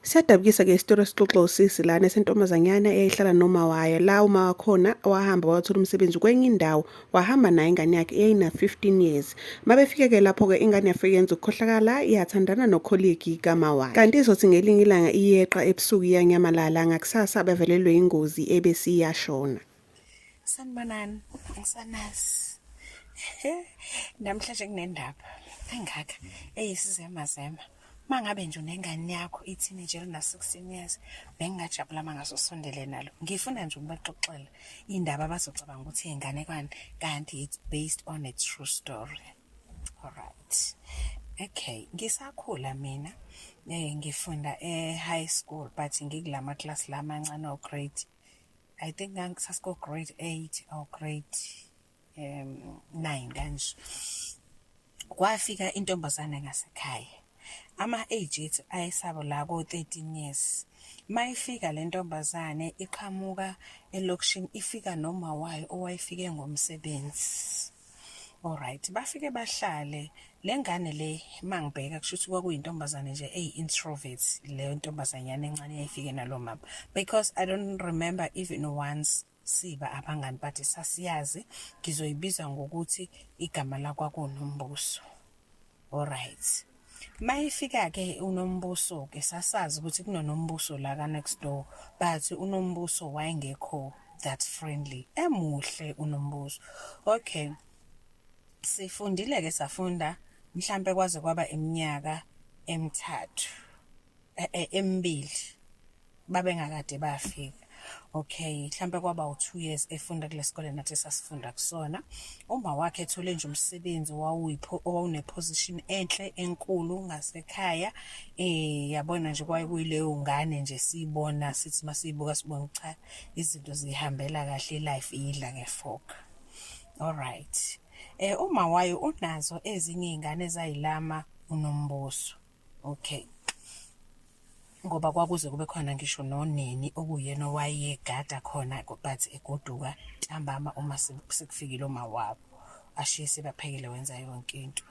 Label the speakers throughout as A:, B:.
A: Siyadabukisa ke isitori esixoxa usisi lana esentombazanyana eyayihlala noma wayo la uma wakhona wahamba wathola umsebenzi kwenye indawo wahamba naye ingane yakhe eyayina 15 years mabefike ke lapho ke ingane yafike yenza ukukhohlakala yathandana nokholegi kama wakhe kanti izothi ngelinye ilanga iyeqa ebusuku iyanyamalala ngakusasa abavelelwe ingozi ebesiyashona
B: Sanibonani, ngisanasi. Namhlanje kunendaba engaka eyisizema zema. Mangabe nje unengane yakho ithini nje lina 16 years bengingajabula mangaso sondele nalo. Ngifuna nje ukubaxoxela indaba abazocabanga ukuthi ingane kwani kanti it's based on a true story. All right. Okay, ngisakhula mina. Eh ngifunda e high school but ngikulama class lamancane o grade I think ngangisasiko grade 8 or grade um 9 kanje kwafika intombazane ngasekhaya ama age ethu ayesabo la ko 13 years mayifika le ntombazane iqhamuka elokishini ifika noma wayo owayefike ngomsebenzi Alright, bafike bahlale lengane le mangibheka kushuthi kwakuyintombazane nje ey introvert leyo ntombazanyana encane yayifike nalo mama because I don't remember even once siba abangani but sasiyazi ngizoyibiza ngokuthi igama lakwakunombuso Alright. Mayifika ke unombuso ke sasazi ukuthi kunonombuso la ka next door but unombuso wayengekho that friendly emuhle unombuso. Okay. Sifundile ke safunda mhlambe kwaze kwaba iminyaka emithathu e, e, emibili babengakade bafika okay mhlambe kwaba u2 years efunda kulesikole nathi sasifunda kusona uma wakhe ethole nje umsebenzi wawuyipho owawune position enhle enkulu ngasekhaya eh yabona nje kwaye kuyileyo ngane nje sibona sithi masiyibuka sibona cha izinto zihambela kahle life iyidla ngefoka all right eh uma wayo unazo ezinye izingane ezayilama unombuso okay ngoba kwakuze kube khona ngisho nonini okuyena owayegada khona but egoduka ntambama uma sekufikile uma wabo ashiye sebaphekile wenza yonke into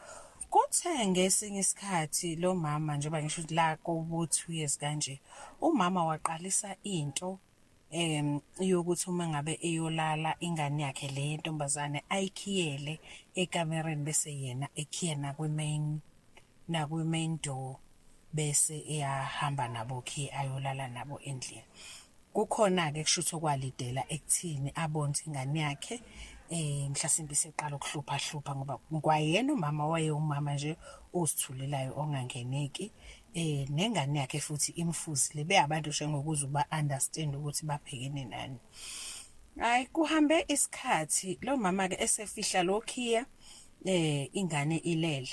B: kuthe ngesinye isikhathi lo mama njengoba ngisho ukuthi la kobu-two years kanje umama waqalisa into em yokuthi uma ngabe eyolala ingane yakhe le yentombazane ayikhiyele ekamereni bese yena ekhiyena kwi-main nakwi-main door bese eyahamba nabo khi ayolala nabo endlini kukhona-ke kusho ukuthi okwalidela ekuthini abone ukuthi ingane yakhe um mhlasimbe iseqala ukuhluphahlupha ngoba kwayena umama wayewumama nje ozithulelayo ongangeneki eh nengane yakhe futhi imfuzile beyabantu nje ngokuze uba understand ukuthi babhekene nani hayi kuhambe isikhathi lo mama ke esefihla lokhiya eh ingane ilele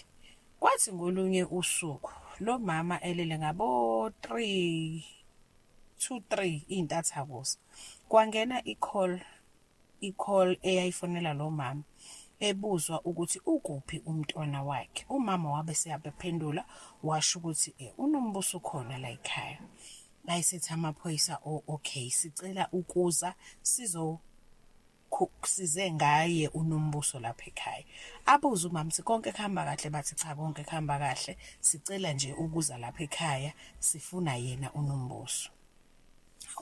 B: kwathi ngolunye usuku lo mama elele ngabo 3 2 3 intathakusa kwangena icall i-call eyayifonela lo mama ebuzwa ukuthi ukuphi umntwana wakhe umama wabe seyabephendula washo ukuthi eh, unombuso khona la ekhaya bayisethi amaphoyisa o oh, okay sicela ukuza sizo size ngaye unombuso lapha ekhaya abuze umama ukuthi konke kuhamba kahle bathi cha konke kuhamba kahle sicela nje ukuza lapha ekhaya sifuna yena unombuso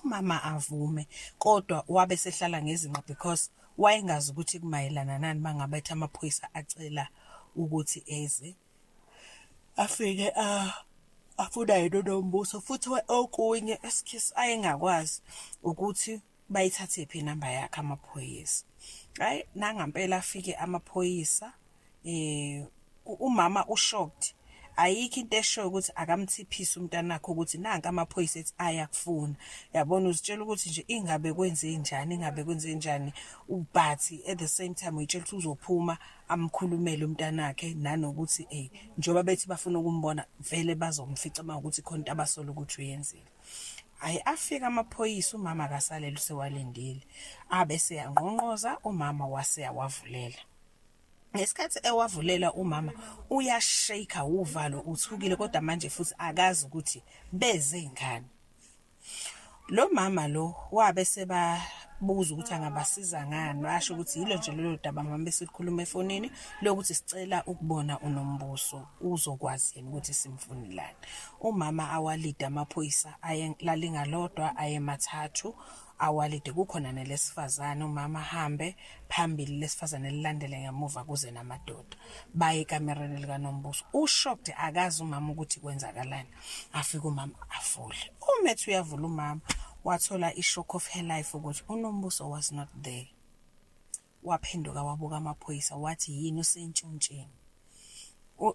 B: umama avume kodwa wabe sehlala ngezinqa because wayengazi ukuthi kumayelana nani mangabe ethi amaphoyisa acela ukuthi eze afike a ah, afuna yena nombuso futhi okunye esikhiss ayengakwazi ukuthi bayithathe phi inamba yakhe amaphoyisa hayi nangampela afike amaphoyisa eh umama ushocked ayikho into eshoyo ukuthi akamthiphise umntanakhe ukuthi nanka amaphoyisa ethi ayakufuna yabona uzitshela ukuthi nje ingabe kwenze njani ingabe kwenze njani ubhathi at the same time uyitshela ukuthi uzophuma amkhulumele umntanakhe nanokuthi eh njoba bethi bafuna ukumbona vele bazomfica uma ukuthi khona into abasola ukuthi uyenzile ayi afika amaphoyisa umama akasalele usewalindile abese yangqonqoza umama wase yawavulela ngesikhathi ewavulela umama uyashake uvalo uthukile kodwa manje futhi akazi ukuthi beze ngani lo mama lo wabe seba buza ukuthi angabasiza ngani washo ukuthi yilo nje lelo daba mama besikhuluma efonini lokuthi sicela ukubona unombuso uzokwazi yini ukuthi simfunilani umama awalida amaphoyisa aye lalingalodwa ayemathathu awalide kukhona nelesifazane umama hambe phambili lesifazane lilandele ngemuva kuze namadoda baye ekamereni likanombuso ushocked akazi umama ukuthi kwenzakalani afika umama afule umethi uyavula umama wathola ishock of her life ukuthi unombuso was not there waphenduka wabuka amaphoyisa wathi yini usentshontsheni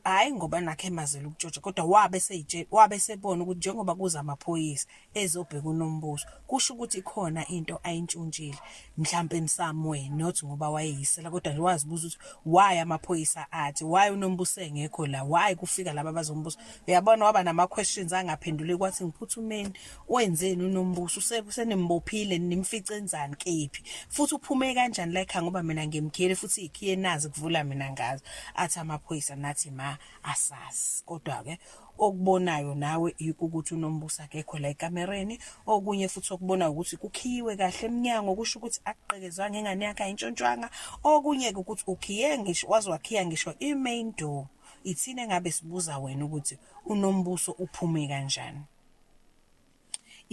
B: hayi ngoba nakhe emazela ukutshontsha kodwa wabe seyitshela wabe sebona ukuthi njengoba kuza amaphoyisa ezobheka unombuso kusho ukuthi khona into ayintshontshile mhlambe in some way not ngoba wayeyisela kodwa nje wazibuza ukuthi why amaphoyisa athi why unombuso engekho la why kufika laba bazombuso uyabona waba nama questions angaphendule kwathi ngiphuthumeni wenzeni unombuso usenembophile nimfice enzani kephi futhi uphume kanjani la ekhaya ngoba mina ngimkhele futhi ikhiye nazi kuvula mina ngazo athi amaphoyisa nathi ma asazi kodwa ke okubonayo nawe ukuthi unombuso akekho la ekamereni okunye futhi okubona ukuthi kukhiyiwe kahle eminyango kusho ukuthi akuqekezwanga ingane yakhe ayintshontshwanga okunye ke ukuthi ukhiye ngisho waze wakhiya ngisho i-main door ithina engabe sibuza wena ukuthi unombuso uphume kanjani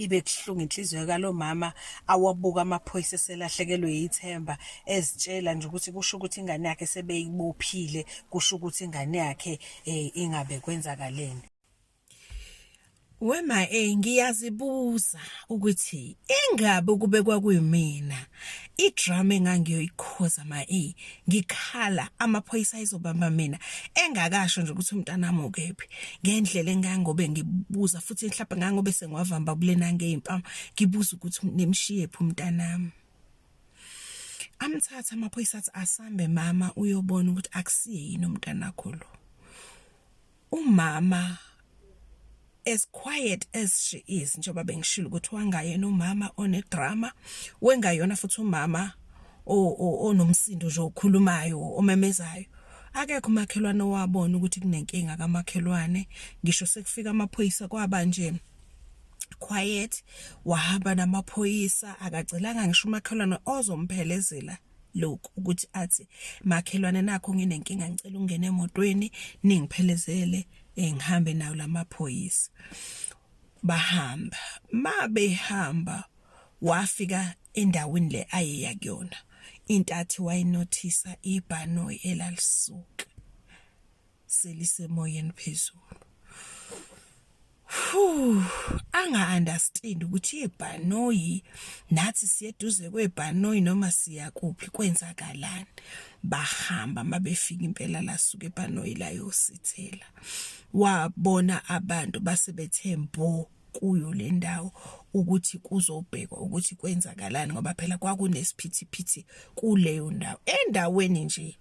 B: ibe kuhlungu inhliziyo kalo mama awabuka amaphoyisa eselahlekelwe yithemba ezitshela nje ukuthi kusho ukuthi ingane yakhe sebeyibophile kusho ukuthi ingane yakhe eh, ingabe kwenzakaleni
C: Wema eh ngiyazibuza ukuthi ingabe kube kwakuyimina idrama engangiyoyikhoza ma e ngikhala amaphoyisa izobamba mina engakasho nje ukuthi umntanami ukephi ngendlela engangobe ngibuza futhi mhlawumbe ngangobe sengiwavamba kulena ngeimpama ngibuza ukuthi nemshiye phi umntanami amthatha amaphoyisa athi asambe mama uyobona ukuthi akusiye yini umntanakho lo umama as quiet as she is njengoba bengishilo ukuthi wangayena umama onedrama wengayona futhi umama onomsindo nje okhulumayo omemezayo akekho umakhelwane owabona ukuthi kunenkinga kamakhelwane ngisho sekufika amaphoyisa kwaba nje quiet wahamba namaphoyisa akacelanga ngisho umakhelwane ozomphelezela lokhu ukuthi athi makhelwane nakho nginenkinga ngicela ungene emotweni ningiphelezele eh, ngihambe nawo lamaphoyisa bahamba mabehamba wafika endaweni le ayeya kuyona intathi wayinothisa ibhanoyi elalisuka selisemoyeni phezulu anga-understand ukuthi ibhanoyi nathi siyeduze kwebhanoyi noma siya kuphi kwenzakalani bahamba uma befika impela lasuke ebhanoyi layosithela wabona abantu base bethe mbo kuyo le ndawo ukuthi kuzobhekwa ukuthi kwenzakalani ngoba phela kwakunesiphithiphithi kuleyo ndawo endaweni nje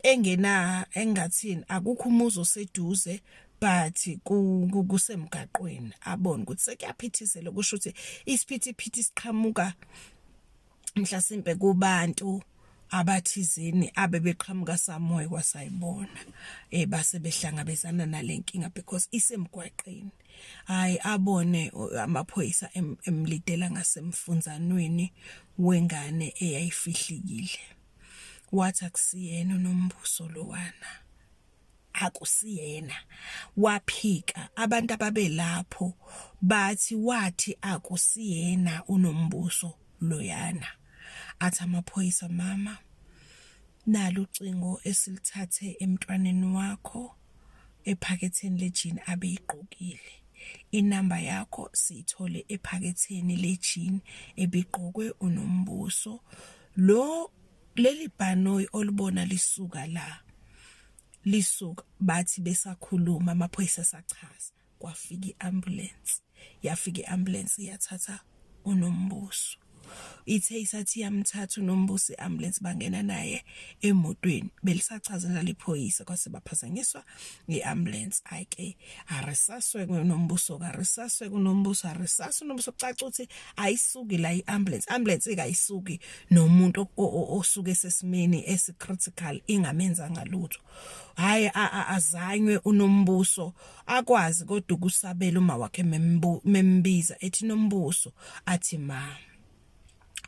C: engena engathini akukho umuzi oseduze but kusemgaqweni abone ukuthi sekuyaphithizela kusho ukuthi isiphithiphithi siqhamuka mhlasimpe kubantu abathizini abebeqhamuka samoya kwasayibona eh base behlangabezana nalenkinga because isemgwaqeni hayi abone amaphoyisa emlidela ngasemfunzanweni wengane eyayifihlikile wathi akusiyena unombuso lowana akusiyena waphika abantu ababelapho bathi wathi akusiyena unombuso loyana athi amaphoyisa mama nalo ucingo esilithathe emntwaneni wakho ephaketheni lejini abeyigqokile inamba yakho siyithole ephaketheni lejini ebigqokwe unombuso lo leli bhanoyi olibona lisuka la lisuka bathi besakhuluma amaphoyisa sachaza kwafika iambulance yafika iambulance yathatha unombuso ithe isathi yamthatha unombuso iambulance bangena naye emotweni belisachazela liphoyisa kwase baphazanyiswa i-ambulance hayi ke arisaswe kunombuso karisaswe kunombuso arisaswe nombuso kucaca ukuthi ayisuki la i-ambulance ambulance ikayisuki nomuntu osuke sesimeni esicritical ingamenza ngalutho hayi azanywe unombuso akwazi kodwa ukusabela uma wakhe membiza ethi nombuso athi mama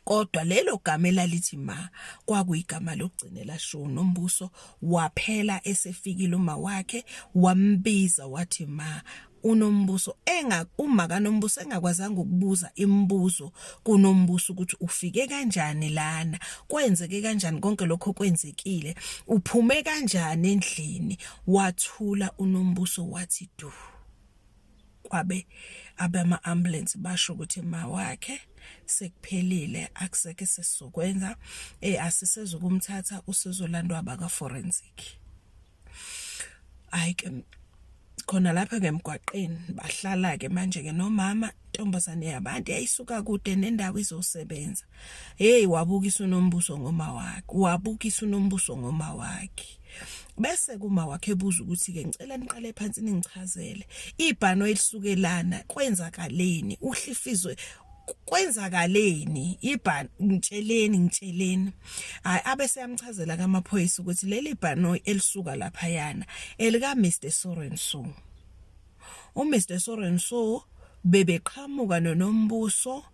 C: kodwa lelo gama elalithi ma kwakuyigama lokugcina elashiwo nombuso waphela esefikile uma wakhe wambiza wathi ma unombuso enga uma kanombuso engakwazanga ukubuza imibuzo kunombuso ukuthi ufike kanjani lana kwenzeke kanjani konke lokho kwenzekile uphume kanjani endlini wathula unombuso wathi du kwabe abama ambulance basho ukuthi mawakhe sekuphelile akuseke sesizokwenza eh asiseze ukumthatha usizolandwa abaka forensic hayi ke khona lapha ngemgwaqeni bahlala ke manje ke nomama intombazane yabantu yayisuka kude nendawo izosebenza hey wabukisa unombuso ngoma wakhe wabukisa unombuso ngoma wakhe bese kuma wakhe buza ukuthi ke ngicela niqale phansi ningichazele ibhano elisukelana kwenzakaleni uhlifizwe kwenzakaleni ibhan ngitsheleni ngitsheleni hayi abese yamchazela kamaphoyisa ukuthi leli bhanoyi elisuka lapha yana elika Mr Sorenson uMr Sorenso bebeqhamuka noNombuso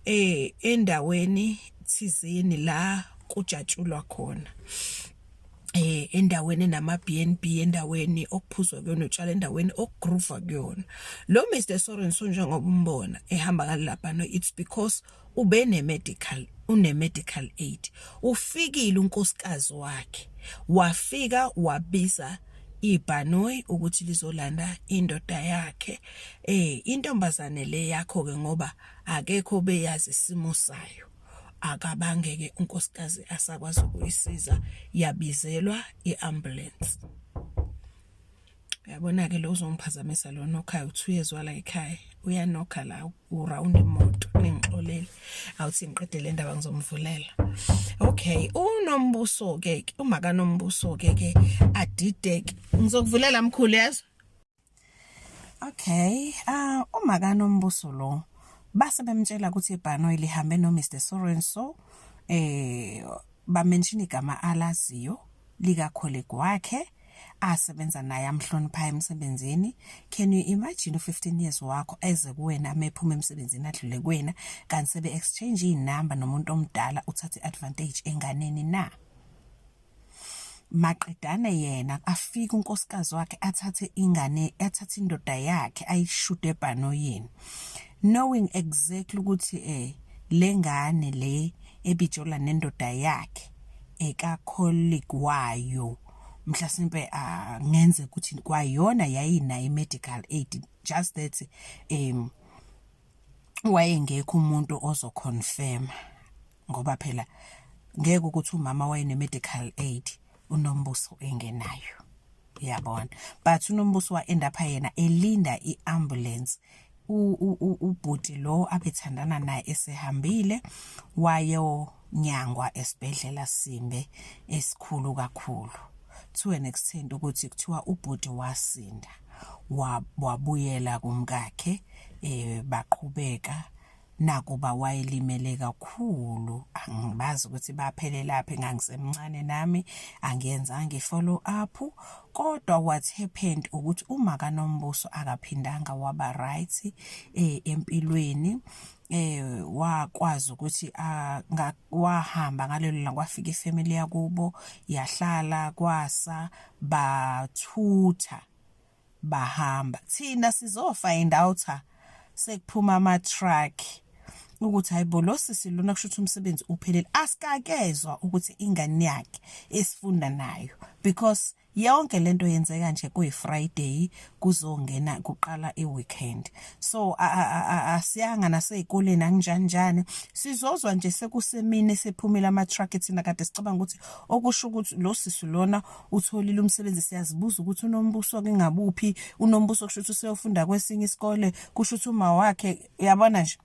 C: eh endaweni thizeni la kujatshulwa khona eh endaweni nama BNB endaweni okuphuzwa kuyona utshwala endaweni okugroova kuyona lo Mr Sorenson njengoba umbona ehamba ngalapha no it's because ube ne-medical une-medical aid ufikile unkosikazi wakhe wafika wabiza ibhanoyi ukuthi lizolanda indoda yakhe eh intombazane le yakho ke ngoba akekho beyazi isimo sayo akabangeke unkosikazi asakwazi ukuyisiza yabizelwa iambulance uyabona-ke lo uzongiphazamisa lo nokhayo uthi uyezwa la ekhaya uyanokha la urawundi imoto ningixolele awuthi ngiqede le ndaba ngizomvulela okay unombuso-ke umakanombuso-ke ke adideke ngizokuvulela mkhulu yezwa okay uh, umakanombuso lo base bemtshela ukuthi ibhanoyi lihambe no Mr Soren so eh bamenshini igama alaziyo likakhole kwakhe asebenza naye amhloniphayo emsebenzini can you imagine u15 years wakho eze kuwena amephuma emsebenzini adlule kuwena kanti sebe exchange inamba nomuntu omdala uthathe advantage enganeni na maqedane yena afike unkosikazi wakhe athathe ingane athathe indoda yakhe ayishude ebhanoyini knowing exactly ukuthi eh lengane le ebijola nendoda yakhe eka colleague wayo mhlasimpe angenze ah, ukuthi kwayona yayinayo i-medical aid just that um wayengekho umuntu ozoconfirma ngoba phela ngeke ukuthi umama wayene-medical aid unombuso engenayo yabona but unombuso wa-end up yena elinda i-ambulance ubhuti lo abethandana naye esehambile wayo nyangwa esibhedlela simbe esikhulu kakhulu to an extent ukuthi kuthiwa ubhuti wasinda wabuyela kumkakhe eh baqhubeka nakuba wayelimele kakhulu angibazi ukuthi baphelelaphi ngangisemncane nami angiyenzanga i-follow up kodwa what happened ukuthi uma kanombuso akaphindanga waba right eh empilweni eh wakwazi ukuthi ah, wahamba ngalelo la kwafika ifamily yakubo yahlala kwasa bathutha bahamba thina sizofind out sekuphuma ama truck ukuthi hayibo lo sisi lona kusho ukuthi umsebenzi uphelele asikakezwa ukuthi ingane yakhe esifunda nayo because yonke lento yenzeka nje kuyi Friday kuzongena kuqala iweekend so asiyanga nasezikoleni angijanjani sizozwa nje sekusemini sephumile ama truck thina kade sicabanga ukuthi okusho ukuthi lo sisi lona utholile umsebenzi siyazibuza ukuthi unombuso kingabuphi unombuso kusho ukuthi useyofunda kwesinye isikole kusho ukuthi uma wakhe uyabona nje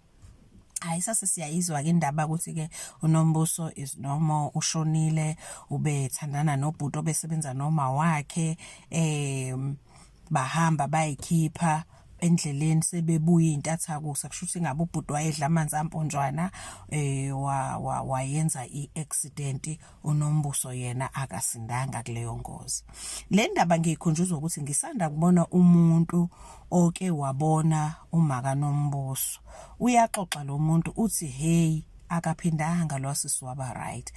C: hayi sase siyayizwa ke indaba ukuthi ke unombuso is normal ushonile ubethandana nobhuti obesebenza noma wakhe em bahamba bayikhipha endleleni sebebuye intatha kusa kusho ukuthi ngabe ubhuti wayedla amanzi amponjwana eh wayenza iaccident unombuso yena akasindanga kuleyo ngozi le ndaba ngiyikhunjuzwa ukuthi ngisanda kubona umuntu oke wabona umaka nombuso uyaxoxa lo muntu uthi hey
B: akaphindanga lo sisi waba right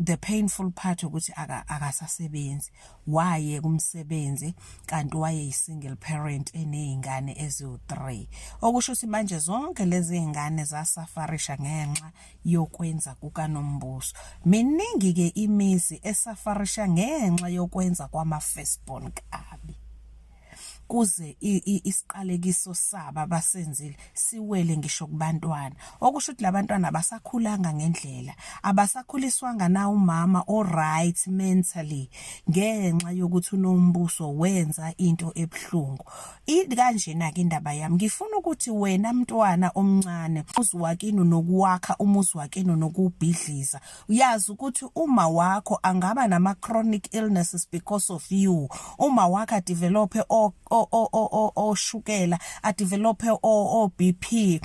B: the painful part ukuthi akasasebenzi waye kumsebenzi kanti waye single parent enezingane eziwu3 okusho ukuthi manje zonke lezi zingane zasafarisha ngenxa yokwenza kukaNombuso. Miningi-ke imizi esafarisha ngenxa yokwenza kwama-firstborn kabi. Kuze isiqalekiso sabo abasenzile siwele ngisho kubantwana. Okusho ukuthi labantwana abasakhulanga ngendlela, abasakhuliswanga na umama o-right mentally ngenxa yokuthi uNombuso wenza into ebuhlungu. Idi kanjena ke indaba yami ngifuna ukuthi wena mntwana omncane uziwakini nokuwakha umuzi wakini nokubhidliza uyazi ukuthi uma wakho angaba nama chronic illnesses because of you uma wakho a develop o o o o shukela a develop o o BP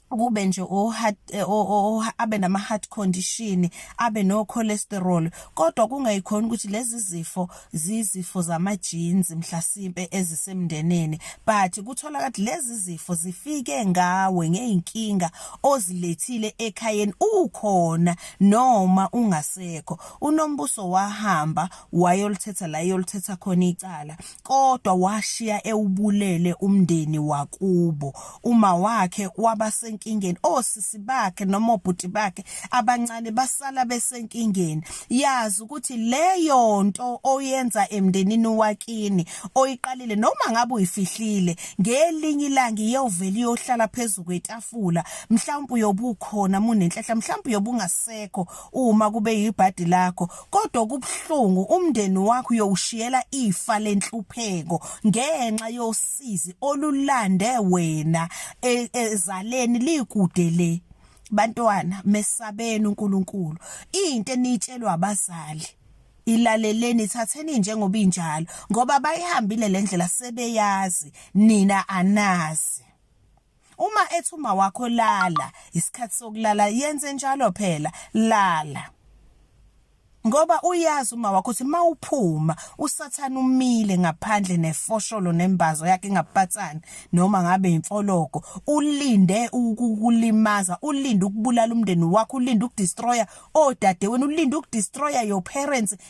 B: kube nje o heart eh, o abe nama heart condition abe no cholesterol kodwa kungayikhona ukuthi lezi zifo zizifo zama genes mhlasimpe ezisemndeneni but kuthola kathi lezi zifo zifike ngawe ngeinkinga ozilethile ekhayeni ukhona noma ungasekho unombuso wahamba wayolithetha la yolithetha khona icala kodwa washiya ewubulele umndeni wakubo uma wakhe wabasenkingeni osisi bakhe noma obhuti bakhe abancane basala besenkingeni yazi ukuthi leyo nto oyenza emndenini wakini oyiqalile noma ngabe uyifihlile ngelinye ilanga iyovela iyohlala phezulu kwetafula mhlawumbe uyobukhona munenhlahla mhlawumbe uyobungasekho uma kube yibhadi lakho kodwa kubuhlungu umndeni wakho uyowushiyela ifa lenhlupheko ngenxa yosizi olulande wena e, ezaleni likude le bantwana mesabeni uNkulunkulu into enitshelwa abazali ilaleleni thatheni njengoba injalo ngoba bayihambile lendlela sebeyazi nina anazi Uma ethi uma wakho lala isikhathi sokulala yenze njalo phela lala. Ngoba uyazi uma wakho ukuthi mawuphuma usathana umile ngaphandle nefosholo nembazo yakhe ngapatsani noma ngabe imfologo ulinde ukukulimaza ulinde ukubulala umndeni wakho ulinde ukudestroya odade wena ulinde ukudestroya your parents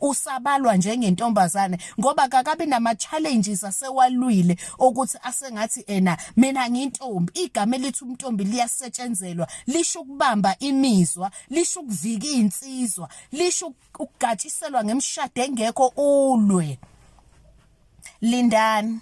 B: usabalwa njengentombazane ngoba kakabi nama challenges asewalwile ukuthi asengathi ena mina ngintombi igama elithi umntombi liyasetshenzelwa lisho ukubamba imizwa lisho ukuvika insizwa lisho ukugatshiselwa ngemshado engekho ulwe lindani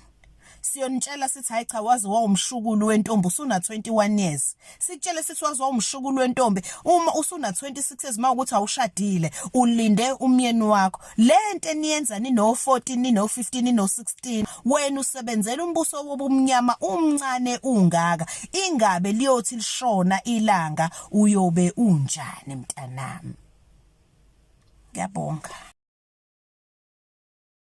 B: siyonitshela sithi hayi cha waze wawumshukulu wentombi usuna 21 years sikutshele sithi waze wawumshukulu wentombi uma usuna 26 years mawukuthi awushadile ulinde umyeni wakho lento eniyenza nino 14 nino 15 nino 16 wena usebenzela umbuso wobumnyama umncane ungaka ingabe liyothi lishona ilanga uyobe unjani mntanami ngiyabonga